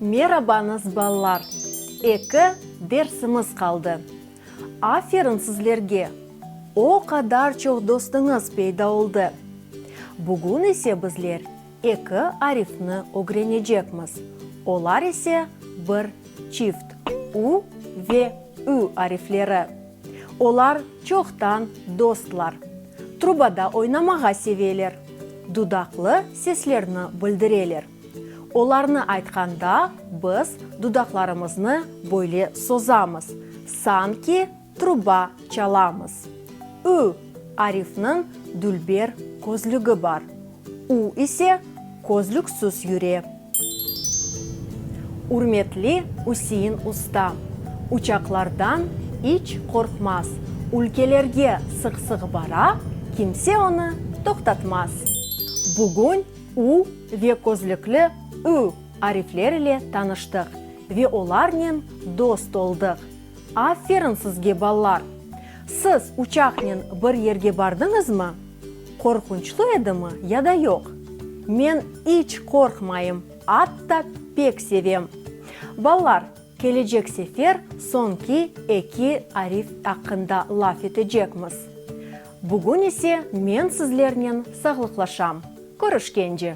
Merabañız ballar! Eki dersimiz qaldı. Aferin sizlerge! O qadar çoq dostuñız peyda oldı. Bugün ise bizler eki arifni ögrenecekmiz, olar ise bir çift, u ve ü arifleri. Olar çoqtan dostlar. Trubada oynamağa seveler. Dudaqlı seslerni bildireler. Olarnı aytqanda biz dudaqlarımıznı böyle sozamız, sanki truba çalamız. Ü, Arifniñ dülber közlügi bar. U ise közlüksüz yüre. Ürmetli Üsein usta, uçaqlardan iç qorqmaz, ülkelerge sıq-sıq bara, kimse onı toqtatmaz. Bugün U ve közlükli Ü arifler ile tanıştıq ve olarnen dost oldıq. Aferin sizge, balalar! Siz uçaqnen bir yerge bardıñızmı? Qorqunçlı edimi ya da yoq? Men iç qorqmayım, atta pek sevem! Balalar, kelecek sefer soñki eki arif aqqında laf etecekmiz. Bugün ise men sizlernen sağlıqlaşam. Körüşkence!